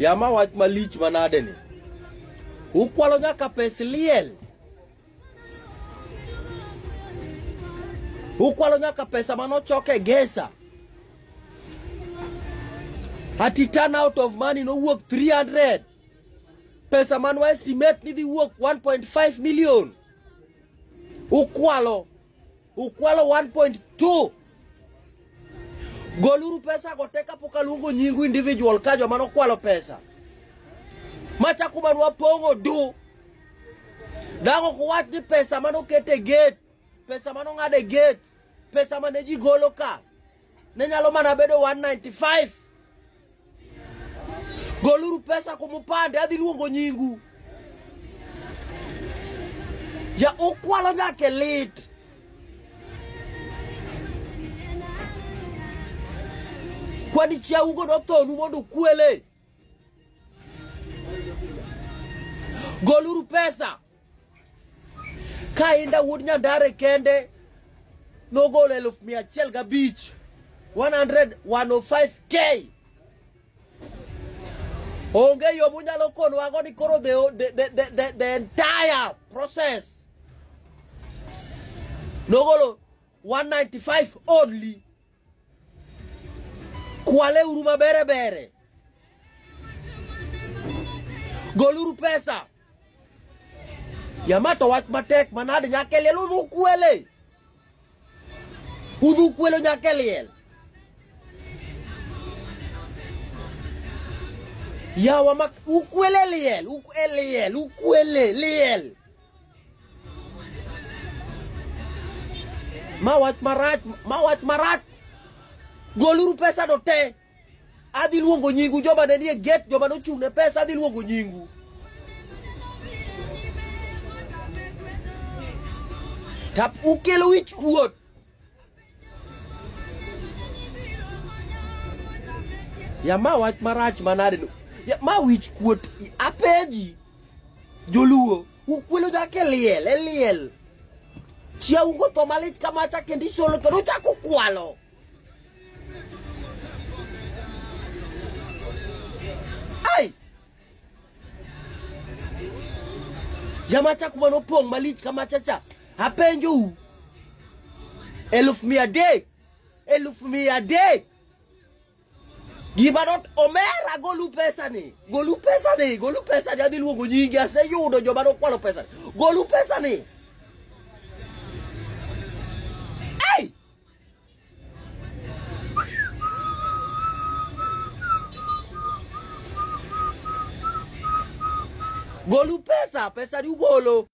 Yama wach malich manade ni. Ukwalo nyaka pes liel. Ukwalo nyaka pesa manochok e gesa. Ati turn out of money nowuok 300. Pesa man wa estimate ni dhi wuok 1.5 million. Ukwalo Ukwalo 1.2 Goluru pesa go te kapok aluongo nyingu individual ka joma nokwalo pesa. Macha kuma nwapong'o du. Dago kuwach ni pesa mano kete gate, pesa mano ng'ade gate, pesa mane ji golo ka. Ne nyalo mana bedo 195. Goluru pesa kuom opande, adhi luongo nyingu. Ya ukwalo nyaka lit. Kwani chiaungo nothonu mondo ukwele. Goluru pesa. Kainda wuod Nyandare kende nogolo elfu mia achiel gabich 105k onge yo munyalo konwago ni koro the, the, the, the, the entire process nogolo 195 only Kwale uru mabere bere. Goluru pesa. Yamato to wach matek manade nyaka liel udhu kwele. Udhu kwelo nyaka liel. Yawa mak ukwele liel, ukwele liel, ukwele liel. Ma wach marach, ma wach marach. Goluru pesa do te. Adhi luongo nyingu joma ne nie gate, joma nochung' ne pesa adhi luongo nyingu. Tap ukelo wich kuot. ya ma wach marach manade ya ma wich kuot apeji joluo ukwelo jake liel eliel e chia ungo to malich kamacha kendo isolo kendo uchako kwalo Jamacha kuma nopong' malich kamachacha apenjou eluf mia adek eluf mia adek gima not omera golu pesani golu pesani golu pesani adhi luongo nyingi aseyudo joma nokwalo pesani golu pesani Golu pesa, pesa di ugolo.